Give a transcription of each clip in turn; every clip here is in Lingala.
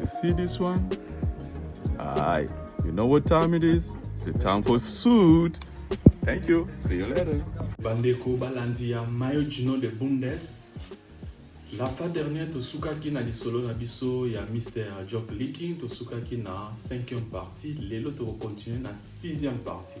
You see this one? Aye. You know what time it is? It's a time for food. Thank you. See you later. Bandeko balandi ya Mayo Gino de Bundes. La fois dernière tosukaki na lisolo na biso ya Mr. Job Leaking, tosukaki na 5e partie, lelo tokokontinue na 6e partie.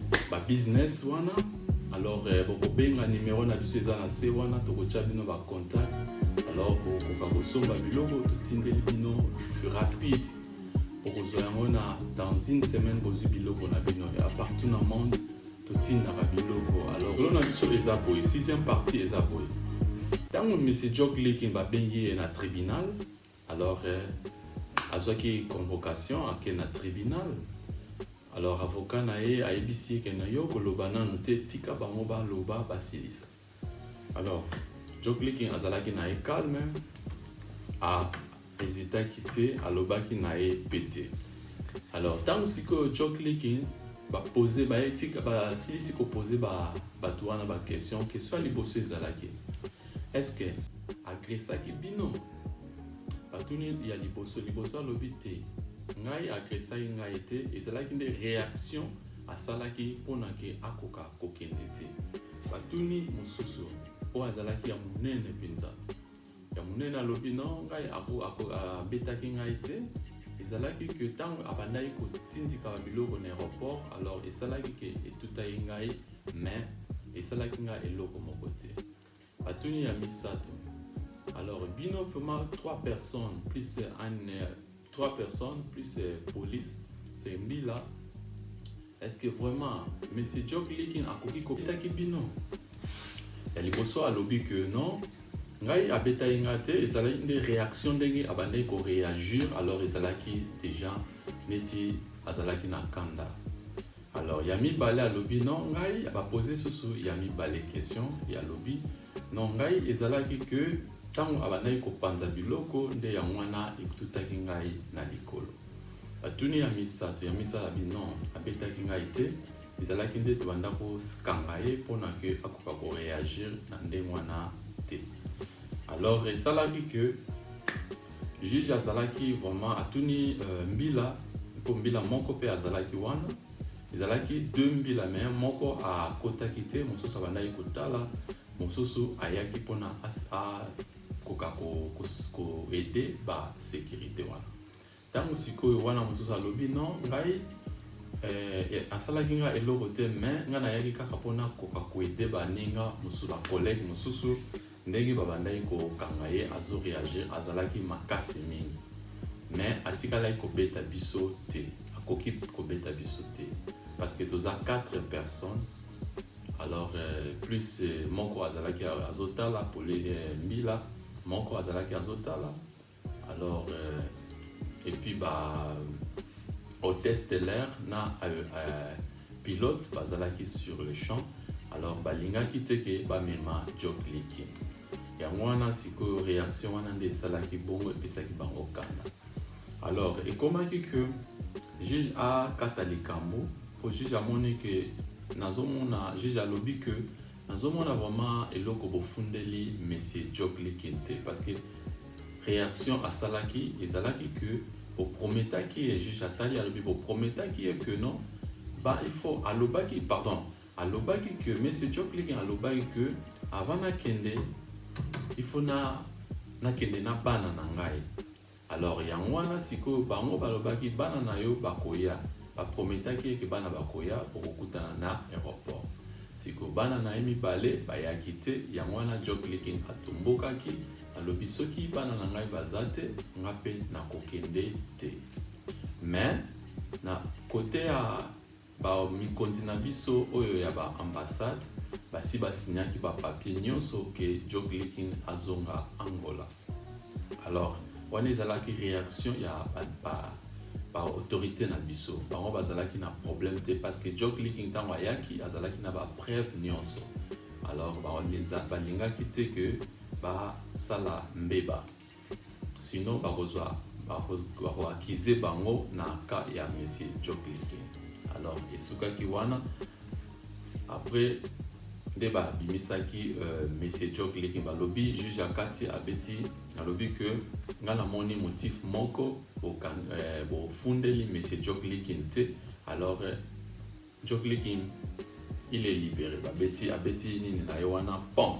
ba business wana alors euh, bokobenga numero na biso eza na se wana tokotya bino ba contact alors bokoka kosomba biloko totindeli bino rapide bokozwa yango na dans une semaine bozwi biloko na bino ya partout na monde totindaka biloko alors olo na biso eza boye sixième partie eza boye ntango misi jok likin babengi ye na tribunal Alors, euh, azwaki convocation ake na tribunal alors avocat na ye ayebisi ye ke na yo koloba nanu te tika bango baloba basilisa alors joe clicking azalaki na ye calme ahezitaki te alobaki na ye mpe te alors ntango sikoyo joe clicking bapose bayetika basilisi kopose bato wana baquestion question ya liboso ezalaki ba Est-ce que agresaki bino? Batuni ya liboso liboso alobi te. Ngai agresaki ngai te, ezalaki nde reaction asalaki mpo na ke akoka kokende te. Batuni mosusu oyo azalaki ya monene mpenza ya monene alobi no ngai abetaki ngai te ezalaki ke ntango abandaki kotindika biloko na aéroport alors esalaki ke etutaki ngai Mais esalaki nga eloko moko te. Batuni ya misato. Alors bino vraiment trois personnes plus un trois personnes plus police c'est mbila est-ce que vraiment monsieur Jock Likin akoki kobetaki bino ya liboso alobi que non ngai abetaki nga te ezalaki nde réaction ndenge abandaki koréagir alors ezalaki déjà neti azalaki na kanda Alors ya mibale alobi non ngai ba poser susu ya mibale question ya alobi non ngai ezalaki que tango abandaki kopanza biloko nde ya mwana etutaki ngai na likolo batuni ya misato ya misala binon abetaki ngai te ezalaki nde tobanda kokanga ye mpona ke akoka koreagir na ndenge wana te alors esalaki que Juge azalaki vraiment atuni euh, mbila mpo mbila moko mpe azalaki wana ezalaki de mbila me moko akotaki te mosusu abandaki kotala mosusu ayaki mpona akoka koede basekirite wana ntango sikoyo wana mosusu alobi no ngai eh, eh, asalaki nga eloko te me ngai nayaki kaka mpona koka koede baninga mosusu bakolege mosusu Ndenge ba bandaki ko kanga ye azo reagir azalaki makasi mingi mais atikalaki ko beta biso te akoki ko beta biso te parce que toza quatre personnes alors plus moko azalaki azo tala pole mbila moko azalaki azo tala Alors euh, et puis ba hôtesse de l'air na euh, euh, pilote bazalaki sur le champ alors balingaki te ke bamema job likin yango wana sikoyo réaction wana nde esalaki bongo epesaki bango kanda alors ekomaki que juge akata likambo mpo juge amoni ke nazomona juge alobi ke Nazo mona vraiment eloko bo fundeli monsieur Job Likin te parce que reaction asalaki ezalaki que bo prometaki ye juge atali alobi bo prometaki ye que non ba il faut alobaki pardon alobaki que monsieur Job Likin alobaki que avant nakende il faut na nakende na bana na ngai Alors yango wana sikoyo bango balobaki bana na yo bakoya, ba prometaki ye ke bana bakoya bokokutana na aeroport. Sikoyo bana na ye mibale bayaki te yango wana Joklikin atombokaki alobi soki bana na ngai baza te nga pe nakokende te. Mais na cote ya Ba mikonzi na biso oyo ya ba ambassades basi ba signaki ba papiers nionso que Joblickin azonga Angola. Alors, wana ezalaki reaction ya ba ba autorites na biso. Bango bazalaki na problème te parce que Joblickin tango ayaki azalaki na ba preuves nionso. Alors, ba lingaki te que ba sala mbeba. Sinon bakozwa bako accuser bango na cas ya monsieur Job Leke. Alors esukaki wana après nde babimisaki euh, monsieur Job Leke balobi juge akati abeti alobi que ngai namoni motif moko euh, bofundeli euh, monsieur Job Leke te alors euh, Job Leke il est libéré babeti abeti nini na ye wana pont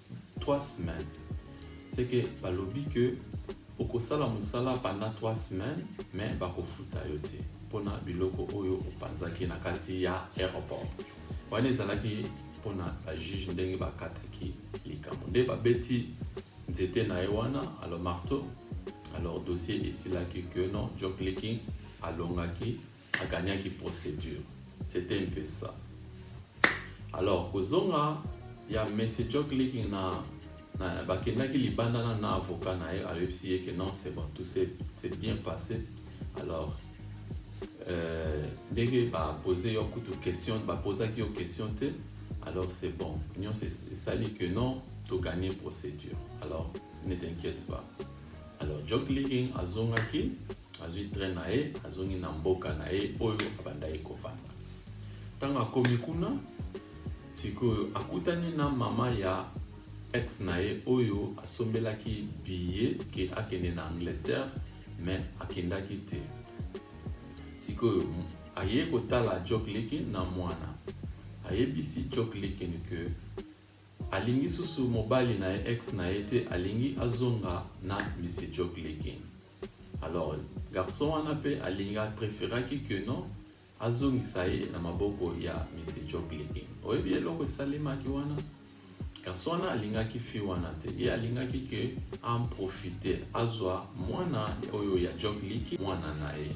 3 semaines c'est que balobi que okosala mosala pendant 3 semaines mais bakofuta yo te mpona biloko oyo opanzaki na kati ya aéroport wana ezalaki mpona bajuge ndenge bakataki likambo nde babeti nzete na ye wana alo marteau alors dossier esilaki que non job leaking alongaki a gagnaki procédure c'était un peu ça alors kozonga ya monsieur jock leaking na, na bakendaki libanda na na avocat na ye ayebisi ye que non c'est bon tout c'est bien passé alors euh, ndenge bapose yo kutu question bapozaki yo question te alors c'est bon nyonso esali que non togagne procédure alors ne t'inquiète pas alors jock leaking azongaki Azwi train na ye, azongi na mboka na ye oyo abandaki kofanda. Ntango akomi kuna, sikoyo akutani na mama ya ex na ye oyo asombelaki billet ke akende na Angleterre, mais akendaki te. Sikoyo aye kotala Jock Likin na mwana, ayebisi Jock Likin ke alingi susu mobali na ye ex na ye te, alingi azonga na Monsieur Jock Likin. Alors garçon wana pe alingi a preferaki que non azongisa ye na maboko ya Monsieur Jock Legen. Oyebi eloko esalemaki wana? Garçon wana alingaki fille wana te, ye alingaki que a en profiter azwa mwana oyo ya Jock Liki mwana na ye.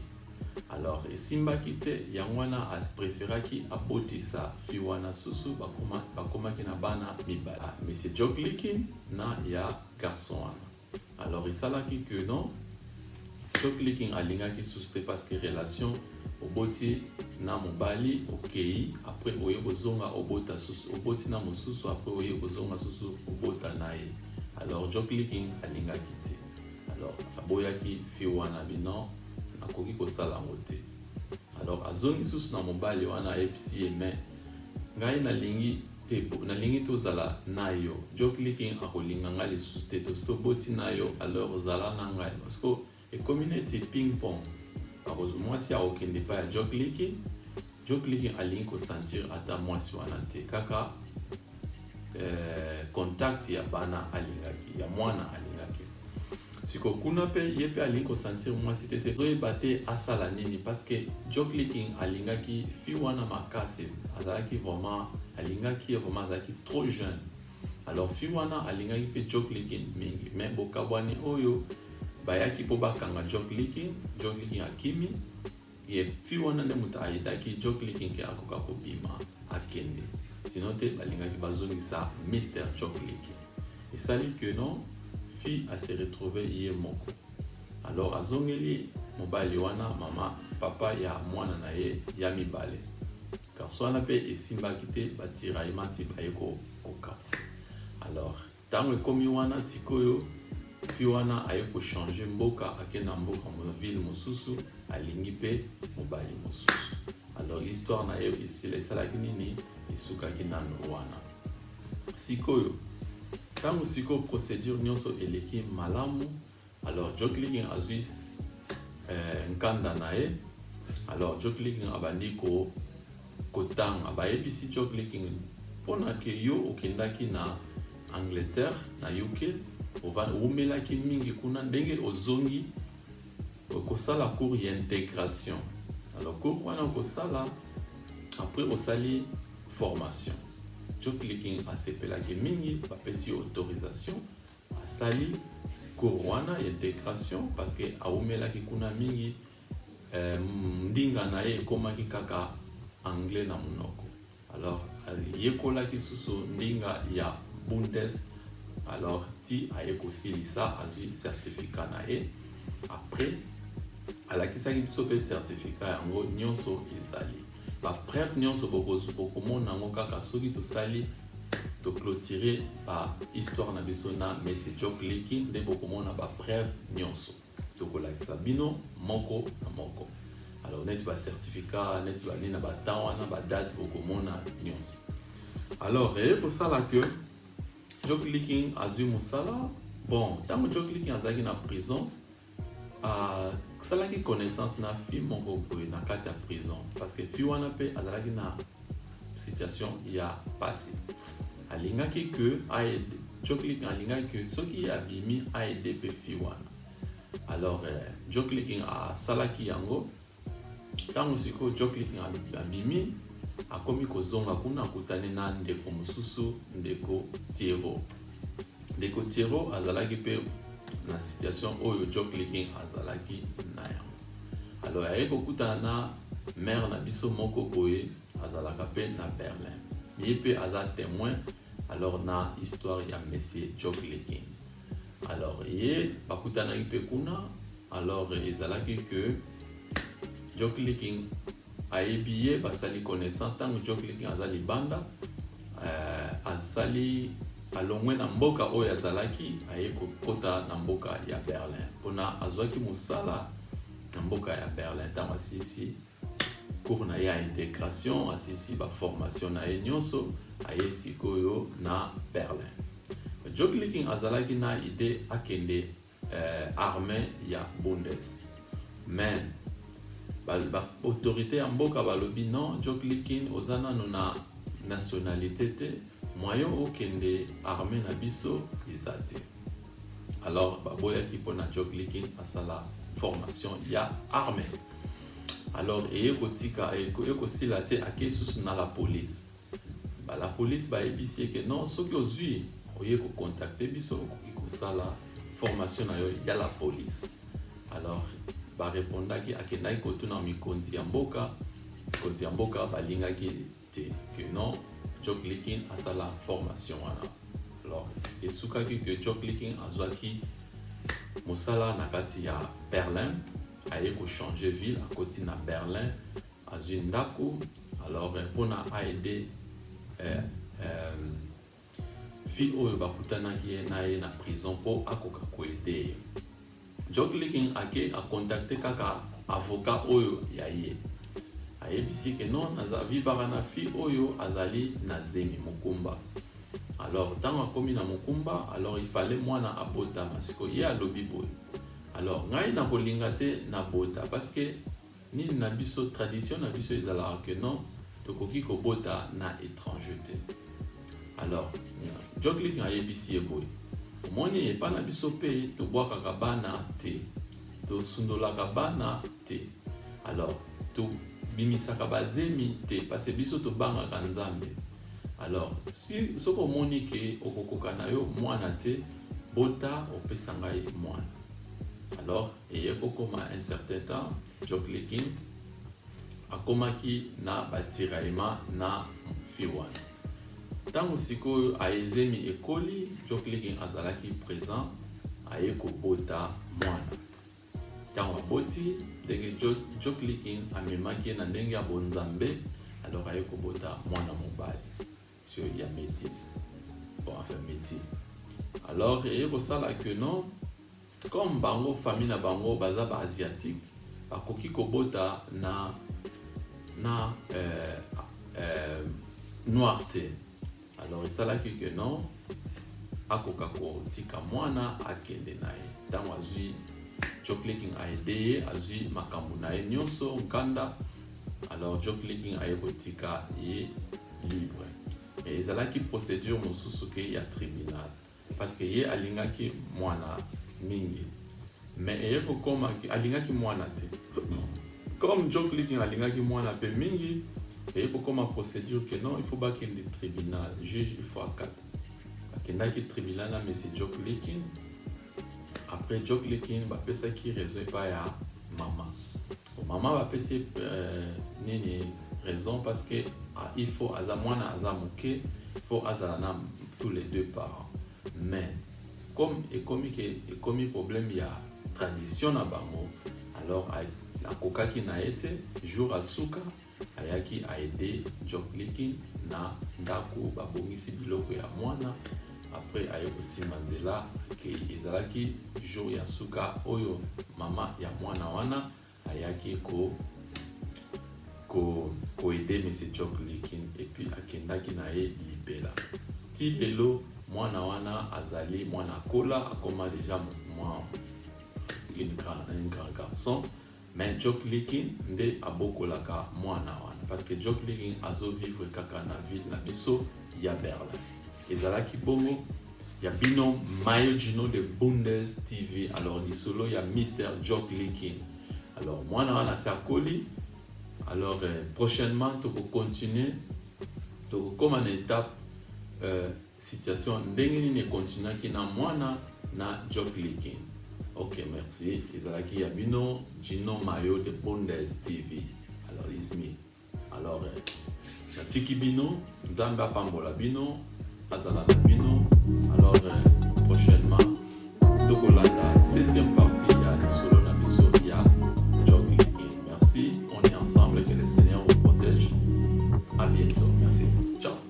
Alors esimbaki te, yango wana a preferaki abotisa fille wana susu, bakoma bakomaki na bana mibale, Monsieur Jock Liki na ya garçon wana. Alors esalaki que non Choclicking alingaki susu te parce que relation oboti na mobali okei après oye kozonga obota susu oboti na mosusu après oye kozonga susu obota na ye alors Choclicking alingaki te alors aboyaki fille wana bino nakoki kosala yango te alors azongi susu na mobali wana ayebisi ye mais ngai nalingi te bo nalingi tozala nayo jokliking akolinga nga lisusu te tosi toboti nayo alors zala na ngai parce que ekomi neti ping pong akozwa mwasi akokende epai ya jokliking jokliking alingi kosentir ata mwasi wana te kaka eh, contact ya bana alingaki ya mwana alingaki Siko kuna pe ye pe alingi ko sentir mwasi te se toyeba te asala nini parce que Joclicking alingaki fille wana makasi azalaki vraiment alingaki ye vraiment azalaki trop jeune alors fille wana alingaki pe Joclicking mingi mais bokabwani oyo bayaki po bakanga Joclicking Joclicking akimi Ye fille wana nde moto aidaki Jocelyne ke akoka kobima akende sinon te balingaki bazongisa Mister Jocelyne esali que non fille a se retrouver ye moko alors azongeli mobali wana mama papa ya mwana na ye ya mibale garçon wana pe esimbaki te ba tiraillement ti baye ko kokaba alors Tango ekomi wana sikoyo fille wana aye ko changer mboka ake na mboka na ville mosusu alingi pe mobali mosusu alors histoire na ye esila esalaki nini esukaki nanu wana sikoyo tango sikoyo procedure nionso eleki malamu Alors Joe Clicking azwi eh, nkanda na ye. Alors Joe Clicking abandi ko kotanga, bayebisi Joe Clicking mpona ke yo okendaki na Angleterre na UK oumelaki mingi kuna ndenge ozongi okosala cours ya intégration alors cours wana okosala après osali formation Joe Clicking asepelaki mingi bapesi yo autorisation Asali cours wana ya integration parce que awumelaki kuna mingi eh, ndinga na ye ekomaki kaka anglais na monoko alors ayekolaki susu ndinga ya bundes alors ti aye kosilisa azwi certificat na ye après alakisaki biso mpe certificat yango nyonso ezali Ba preuves nionso bokozwa bokomona yango kaka soki tosali to clôturer ba histoire na biso na Messe Jock Liki nde bokomona ba preuves nionso tokolakisa bino moko na moko alors neti ba certificat neti ba nini na ba temps wana ba date bokomona nionso alors eye kosala que Jock Liking azwi mosala bon ntango Jock Liking azalaki na prison asalaki connaissance na fille moko boye na kati ya prison parce que fille wana mpe azalaki na situation ya pasi alingaki que aide joklik alingaki que soki abimi aide mpe fille wana alors euh, jokliking asalaki yango Ntango sikoyo Jocelyne abimi, akomi kozonga kuna, akutani na ndeko mosusu, ndeko Thierrot. Ndeko Thierrot azalaki mpe na situation oyo Jocelyne azalaki na yango. Alors aye kokutana na mère na biso moko boye, azalaka mpe na Berlin. Ye mpe aza temoin alors na histoire ya monsieur Jocelyne. Alors ye bakutanaki mpe kuna Alors ezalaki que Jokliking ayebi ye basali connaissance ntango Jokliking aza libanda euh, asali alongwe na mboka oyo azalaki aye kokota na mboka ya Berlin mpona azwaki mosala na mboka ya Berlin ntango asisi cours na ye ya integration asisi baformation na ye nyonso aye sikoyo na Berlin. Jokliking azalaki na idee akende eh, armee ya bundes mais baautorité ba, ya mboka balobi non joklikin oza nano na nationalité te moyen okende armée na biso eza te alors baboyaki mpona joklikin asala formation ya armée alors eye kotika eye kosila te ake susu na la police Ba la police bayebisi ye ke non soki ozui oye ko contacter biso okoki kosala formation na yo ya la police alors ba repondaki akendaki kotuna mikonzi ya mboka mikonzi ya mboka balingaki te ke non Jock Licking asala formation wana alors esukaki ke Jock Licking azwaki mosala na kati ya Berlin aye ko changer ville akoti na Berlin azui ndaku alors eh, pona aide eh, eh, fille oyo bakutanaki ye na ye na prison mpo akoka koede ye jokliking ake akontakte kaka avocat oyo ya ye ayebisi ke non naza vivaka na fille oyo azali na zemi mokumba alors ntango akomi na mokumba alors ifale mwana abotama siko ye alobi boye alors ngai nakolinga te nabota parce que Nini na biso tradition na biso ezalaka que non tokoki kobota na étranger te alors joglik ayebisi ye boye omoni epa na biso mpe tobwakaka bana te tosundolaka bana te alors tobimisaka bazemi te parce biso tobangaka nzambe alors si soki omoni ke okokoka na yo mwana te bota opesa ngai mwana alors Eye kokoma un certain temps, Jokely King akomaki na ba tiraillement na fille wana. Tango sikoyo aye zemi ekoli, Jokely King azalaki present, aye kobota mwana. Tango aboti, ndenge Jokely King amemaki ye na ndenge ya bonzambe, alors aye kobota mwana mobali. sur ya métis bon enfin métis alors eye kosala que non comme bango famille na bango baza ba asiatique bakoki kobota na na euh, euh, noir te alors esalaki que non akoka kotika mwana akende na ye ntango azwi joe clicking aide ye azwi makambo na ye nyonso nkanda alors joe clicking aye kotika ye libre mais ezalaki procédure mosusu ke ya tribunal parce que ye alingaki mwana mingi mais eye kokoma alingaki mwana te comme joe clicking alingaki mwana mpe mingi eye kokoma procédure ke non il faut bakende tribunal juge il faut akata akendaki tribunal na monsieur joe clicking après joklikin bapesaki raison epai ya mama mama bapesi euh, nini raison parce que ah, il faut aza mwana aza moke faut azala na tous les deux parents mais comme ekomi ke ekomi problème ya tradition na bango alors akokaki na ye te jour asuka Ayaki a aide Joklikin na ndaku ba bongisi biloko ya muana apres aye ko simba nzela akeyi. Ezalaki jour ya suka oyo maman ya muana wana ayaki ko ko ko aide monsieur Joklikin et puis akendaki na ye libela. Ti lelo muana wana azali muana akola akoma dejà mua une grand un grand garçon. Mais Joklikin nde abokolaka muana wana parce que Joklikin azo vivre kaka na ville na biso ya Berlin. Ezalaki bongo ya bino Mayo Gino de Bundes TV. Alors lisolo ya Mister Joklikin. Alors muana wana se akoli. Alors euh, prochainement toko continuer tokokoma na étape euh, Situation ndenge nini e continuaki na mwana na Joclikin? Ok merci ezalaki ya bino Djino Mayo de Bundes TV alors it's me alors eh, natiki bino Nzambe apambola bino azala na bino alors eh, prochainement tokolanda 7e partie ya lisolo na biso ya Joclikin merci on est ensemble que le Seigneur vous protège à bientôt